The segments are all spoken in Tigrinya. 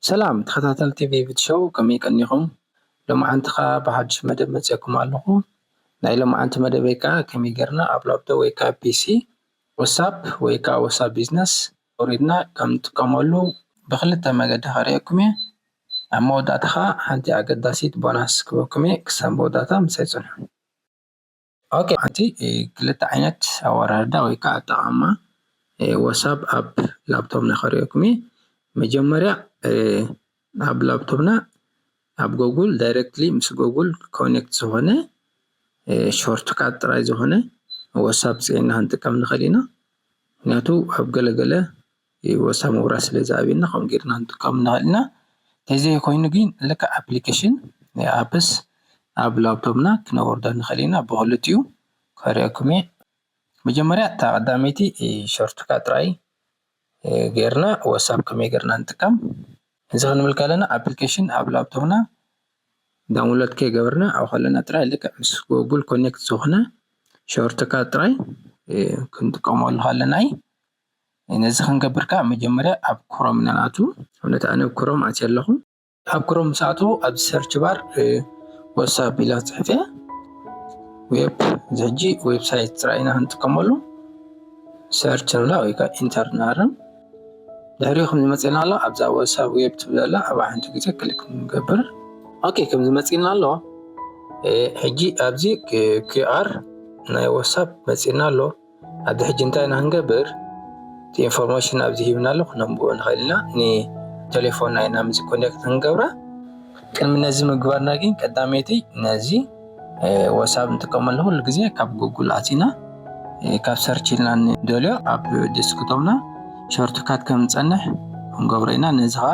ሰላም ተኸታተልቲ ቪቪድ ሾው ከመይ ቀኒኹም? ሎማዓንቲ ከኣ ብሓዱሽ መደብ መጺኤኩም ኣለኹ። ናይ ሎማዓንቲ መደበይ ከኣ ከመይ ጌርና ኣብ ላፕቶፕ ወይ ከኣ ፒሲ ወሳፕ ወይ ከኣ ወሳፕ ቢዝነስ ኣውሪድና ከም ንጥቀመሉ ብክልተ መገዲ ከርእየኩም እየ። ኣብ መወዳእታ ከኣ ሓንቲ ኣገዳሲት ቦናስ ክህበኩም እየ ክሳብ መወዳእታ ምሳይ ጽንሑ። ኦኬ ሓንቲ ክልተ ዓይነት ኣወራርዳ ወይ ከኣ ኣጠቓቕማ ወሳብ ኣብ ላፕቶፕና ከርእየኩም እየ። መጀመርያ ኣብ ላፕቶፕና ኣብ ጎጉል ዳይረክትሊ ምስ ጎጉል ኮኔክት ዝኾነ ሾርት ካት ጥራይ ዝኾነ ወሳብ ፅዒና ክንጥቀም ንኽእል ኢና ምክንያቱ ኣብ ገለ ገለ ወሳብ ምብራህ ስለ ዝኣብየና ከምኡ ጌርና ክንጥቀም ንኽእል ኢና ተዘይኾይኑ ግን ልክዕ ኣፕሊኬሽን ናይ ኣፕስ ኣብ ላፕቶፕና ክነወርዶ ንኽእል ኢና ብኽልቲኡ ከርእየኩም እየ መጀመርያ እታ ቀዳመይቲ ሾርት ካት ጥራይ ጌርና ዋትስኣፕ ከመይ ጌርና ንጥቀም እዚ ክንብል ከለና ኣፕሊኬሽን ኣብ ላፕቶፕና ዳውንሎድ ከይገበርና ኣብ ከለና ጥራይ ልክዕ ምስ ጎግል ኮኔክት ዝኾነ ሾርትካት ጥራይ ክንጥቀመሉ ከለና እዩ ነዚ ክንገብር ከዓ መጀመርያ ኣብ ክሮም ኢና ንኣቱ ኣብነት ኣነ ኣብ ክሮም ኣትየ ኣለኹ። ኣብ ክሮም ምስ ኣትዉ ኣብ ሰርች ባር ወትሳፕ ኢላ ፅሕፍ እያ ዌብ እዚ ሕጂ ዌብሳይት ጥራይ ኢና ክንጥቀመሉ ሰርች ንብላ ወይ ከዓ ኢንተር ንሃርም ድሕሪ ከምዚ መፅና ኣሎ ኣብዛ ወትሳፕ ዌብ ትብል ዘላ ኣብ ሓንቲ ግዜ ክሊክ ንገብር ኦኬ ከምዚ መፅና ኣሎ ሕጂ ኣብዚ ኪኣር ናይ ወትሳፕ መፅና ኣሎ ኣብዚ ሕጂ እንታይ ኢና ክንገብር እቲ ኢንፎርሜሽን ኣብዚ ሂብና ኣሎ ክነንብቦ ንኽእል ኢና ንቴሌፎንና ኢና ምስ ኮኔክት ክንገብራ ቅድሚ ነዚ ምግባርና ግን ቀዳመይቲ ነዚ ወሳብ ንጥቀመሉ ኩሉ ግዜ ካብ ጉግል ኣቲና ካብ ሰርች ኢልና ንደልዮ ኣብ ዴስክቶፕና ሾርትካት ከም ንጸንሕ ክንገብሮ ኢና ነዚ ከዓ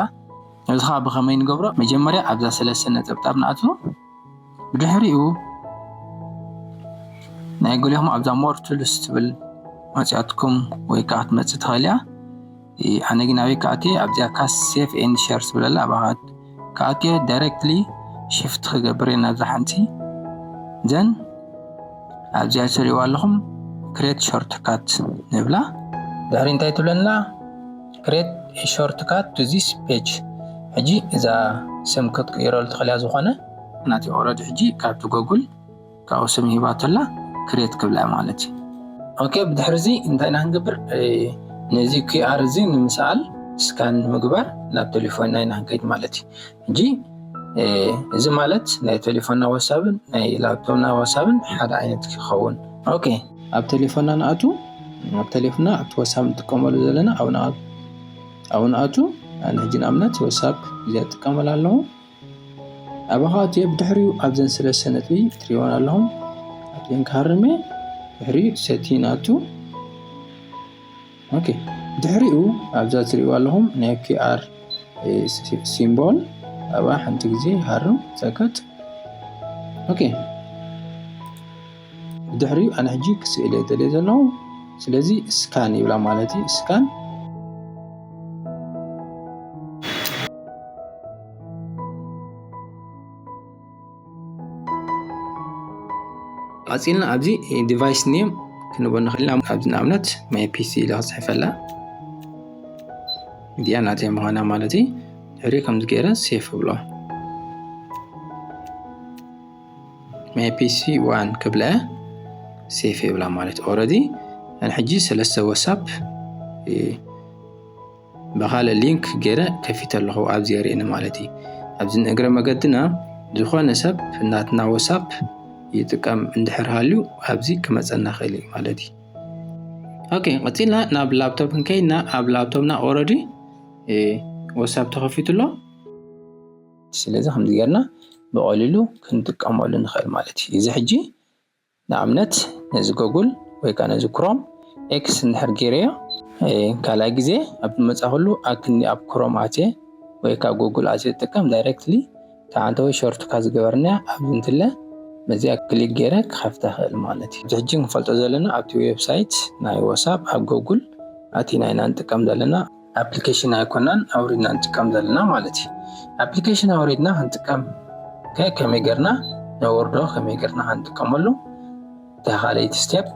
ነዚ ከዓ ብኸመይ ንገብሮ መጀመርያ ኣብዛ ሰለስተ ነጠብጣብ ንኣትዎ ብድሕሪኡ ናይ ገሊኹም ኣብዛ ሞር ቱልስ ትብል መፅያትኩም ወይ ከዓ ክትመፅእ ትኽእል እያ ኣነ ግን ኣበይ ክኣትየ ኣብዚኣ ካስ ሴፍ ኤን ሸር ትብለላ ኣባኻት ክኣትየ ዳይሬክትሊ ሽፍት ክገብር እየ ናብዛ ሓንቲ ዘን ኣብዚኣ ትሪእዋ ኣለኹም ክሬት ሾርትካት ንብላ ድሕሪ እንታይ ትብለና Create a shortcut to this page ሕጂ እዛ ስም ክትቅይረሉ ትኽእል እያ ዝኾነ ናተይ ኦረዲ ሕጂ ካብቲ ጎግል ካብኡ ስም ሂባቶ ኣላ ክሬት ክብላ እያ ማለት እዩ ኦኬ ብድሕሪ እዚ እንታይ ኢና ክንገብር ነዚ ኪኣር እዚ ንምስኣል ስካን ንምግባር ናብ ቴሌፎንና ኢና ክንከይድ ማለት እዩ እንጂ እዚ ማለት ናይ ቴሌፎንና ዋትሳፕን ናይ ላፕቶፕና ዋትሳፕን ሓደ ዓይነት ክኸውን ኦኬ ኣብ ቴሌፎንና ንኣቱ ኣብ ቴሌፎንና ኣብቲ ዋትሳፕ ንጥቀመሉ ዘለና ኣብ ንኣቱ ኣብ ንኣቱ ኣነ ሕጂ ንኣብነት ዋትሳፕ እዚኣ ትጥቀመላ ኣለኹ ኣባኻ እትዮ ብድሕሪኡ ኣብዘን ስለስተ ነጥቢ ትሪእዎን ኣለኹም ኣብዘን ክሃርሜ ድሕሪኡ ሰቲ ንኣቱ ኦኬ ድሕሪኡ ኣብዛ ትሪእዋ ኣለኹም ናይ ኪኣር ሲምቦል ኣብኣ ሓንቲ ግዜ ሃርም ሰከት ኦኬ ድሕሪኡ ኣነ ሕጂ ክስእለ ደልየ ዘለኹ ስለዚ ስካን ይብላ ማለት እዩ ስካን ኣፅልና ኣብዚ ዲቫይስ ኔም ክንቦ ንኽእል ኢና ኣብዚ ንኣብነት ማይ ፒሲ ኢለ ክፅሕፈላ እዚኣ ናተይ ምዃና ማለት እዩ ድሕሪ ከምዚ ገይረ ሴፍ ብሎ ማይ ፒሲ ዋን ክብለ ሴፍ ይብላ ማለት ኦረዲ ሕጂ ሰለስተ ወሳፕ ብኻልእ ሊንክ ጌረ ከፊተ ኣለኹ ኣብዚ የርኢ ንማለት እዪ ኣብዚ ንእግረ መገድና ዝኾነ ሰብ ናትና ወሳፕ ይጥቀም እንድሕር ሃልዩ ኣብዚ ክመጸና ይኽእል እዩ ማለት እዩ ኦኬ ቀጺልና ናብ ላፕቶፕ ከይና ኣብ ላፕቶፕና ኦረዲ ወሳብ ተኸፊቱ ኣሎ ስለዚ ከምዚ ጌርና ብቐሊሉ ክንጥቀመሉ ንኽእል ማለት እዩ እዚ ሕጂ ንኣብነት ነዚ ጎጉል ወይ ከኣ ነዚ ክሮም ኤክስ እንድሕር ጌረዮ ካልኣይ ግዜ ኣብ ዝመጻኹሉ ኣብ ክንዲ ኣብ ክሮም ኣትየ ወይ ካብ ጎጉል ኣትየ ዝጥቀም ዳይሬክትሊ ተዓንተወይ ሾርትካ ዝገበርናያ ኣብ እንትለ በዚኣ ክሊክ ጌረ ክኸፍታ ይኽእል ማለት እዩ። ሕጂ ክንፈልጦ ዘለና ኣብቲ ዌብሳይት ናይ ወሳፕ ኣብ ጎጉል ኣቲና ኢና ንጥቀም ዘለና። ኣፕሊኬሽን ኣይኮናን ኣውሪድና ንጥቀም ዘለና ማለት እዩ ኣፕሊኬሽን ኣውሪድና ክንጥቀም ከመይ ገርና ነወርዶ ከመይ ገርና ክንጥቀመሉ እታ ካልኣይቲ ስቴፕ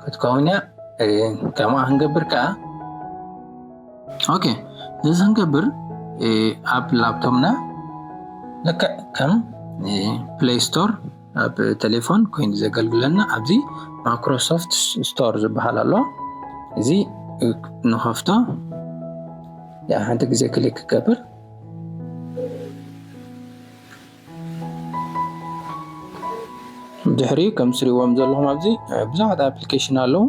ክትከውን እያ ከምኣ ክንገብር ከዓ ኦኬ እዚ ክንገብር ኣብ ላፕቶፕና ልክዕ ከም ፕሌይ ስቶር ኣብ ቴሌፎን ኮይኑ ዘገልግለና ኣብዚ ማይክሮሶፍት ስቶር ዝበሃል ኣሎ እዚ ንኸፍቶ ሓንቲ ግዜ ክሊክ ክገብር ድሕሪ ከም ስሪዎም ዘለኹም ኣብዚ ብዙሓት ኣፕሊኬሽን ኣለዉ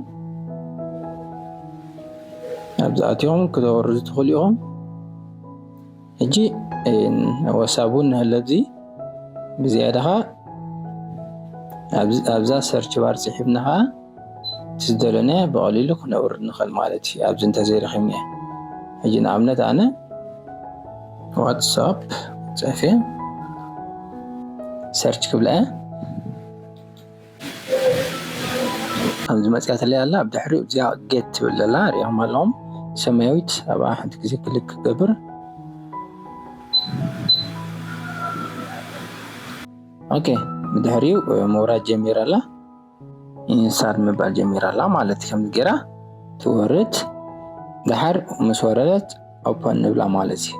ኣብዚ ኣትዮም ክተወርዱ ትኽእሉ ኢኹም ሕጂ ኣብ ዋትስኣፕ እውን ንሀለ ኣብዚ ብዝያዳ ከኣ ኣብዛ ሰርች ባር ጽሒፍና ከኣ እቲ ዝደለናዮ ብቐሊሉ ክነውርድ ንኽእል ማለት እዩ ኣብዚ እንተዘይረኺብናዮ ሕጂ ንኣብነት ኣነ ዋትስኣፕ ጽሕፌ ሰርች ክብላ እየ ኣብዚ መፅያትለይ ኣላ ኣብ ድሕሪ እዚኣ ጌት ትብል ዘላ ሪኦም ኣለዎም ሰማያዊት ኣብኣ ሓንቲ ግዜ ክልክ ክገብር ኦኬ ብድሕሪኡ ምውራድ ጀሚራ ኣላ ኢንሳድ ምባል ጀሚራ ኣላ ማለት ከምዚ ጌራ ትወርድ ድሓር ምስ ወረደት ኦፐን ንብላ ማለት እዩ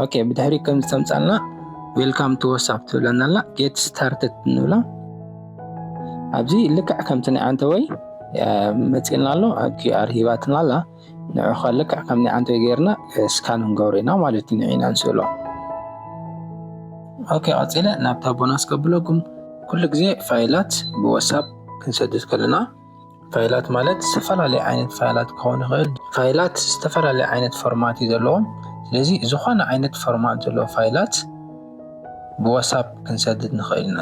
ኦኬ ብድሕሪ ከም ዝተምፃልና ዌልካም ቱ ወሳፕ ትብለና ኣላ ጌት ስታርትድ ንብላ ኣብዚ ልክዕ ከምቲ ናይ ዓንተወይ መፂልና ኣሎ ኣብ ኪኣር ሂባትና ኣላ ንዑ ከ ልክዕ ከም ናይ ዓንተወይ ገይርና ስካን ንገብሮ ኢና ማለት እዩ ንዒና ንስእሎ ኦኬ ቀፂለ ናብታ ቦናስ ከብለኩም ኩሉ ግዜ ፋይላት ብወሳፕ ክንሰድድ ከለና ፋይላት ማለት ዝተፈላለየ ዓይነት ፋይላት ክኸውን ይኽእል። ፋይላት ዝተፈላለየ ዓይነት ፎርማት እዩ ዘለዎም። ስለዚ ዝኾነ ዓይነት ፎርማት ዘለዎ ፋይላት ብዋትሳፕ ክንሰድድ ንኽእል ኢና።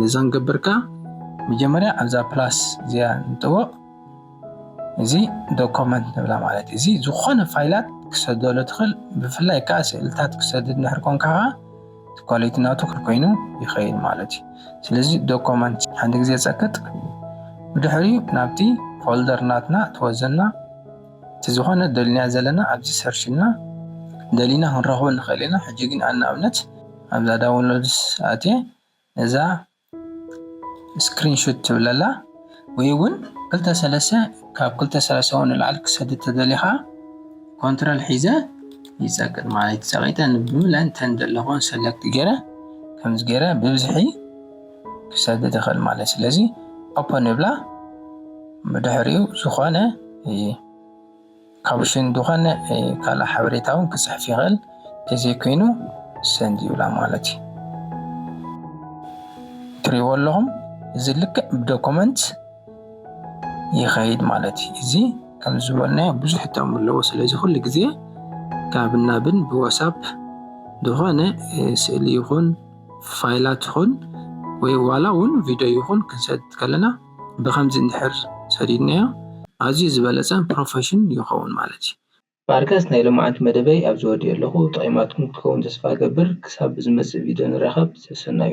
ነዛ ንገብር ከ መጀመርያ ኣብዛ ፕላስ እዚኣ ንጥወቕ። እዚ ዶኮመንት ንብላ ማለት እዩ። እዚ ዝኾነ ፋይላት ክሰደሉ ትኽእል ብፍላይ ከዓ ስእልታት ክሰድድ ንድሕር ኮንካ ከዓ ኳሊቲ ናቱ ኮይኑ ይኸይድ ማለት እዩ ስለዚ ዶኮመንት ሓንቲ ግዜ ፀቅጥ ብድሕሪ ናብቲ ፎልደር ናትና ትወዘና እቲ ዝኾነ ደልናዮ ዘለና ኣብዚ ሰርች ኢልና ደሊና ክንረኽቦ ንኽእል ኢና ሕጂ ግን ኣነ ኣብነት ኣብዛ ዳውንሎድስ ኣትየ ነዛ ስክሪን ሹት ትብል ኣላ ወይ እውን ክልተ ሰለስተ ካብ ክልተ ሰለስተ እውን ንላዕሊ ክሰድ እተደልየ ከዓ ኮንትሮል ሒዘ ይፀቅጥ ማለት እዩ ፀቂጠ ብምለን እንተን ዘለኹን ሰለክት ገይረ ከምዚ ገይረ ብብዝሒ ክሰድድ ይኽእል ማለት ስለዚ ኦፐን ንብላ ብድሕሪኡ ዝኾነ ካብ ሽን ድኾነ ካልእ ሓበሬታ ውን ክጽሕፍ ይኽእል ተዘይ ኮይኑ send ይብላ ማለት እዩ። ትሪእዎ ኣለኹም እዚ ልክዕ ብ document ይኸይድ ማለት እዩ። እዚ ከም ዝበልናዮ ብዙሕ ጥቕሚ ኣለዎ ስለዚ ኩሉ ግዜ ካብን ናብን ብ whatsapp ዝኾነ ስእሊ ይኹን ፋይላት ይኹን ወይ ዋላ ውን video ይኹን ክንሰድ ከለና ብኸምዚ እንድሕር ሰዲድናዮ ኣዝዩ ዝበለጸ ፕሮፈሽን ይኸውን ማለት እዩ። ማርከስ ናይ ሎምዓንቲ መደበይ ኣብዚ ወዲኤ ኣለኹ ጠቂማትኩም ክትከውን ተስፋ እገብር ክሳብ ብዝመጽእ ቪድዮ ንራኸብ ሰሰናዩ።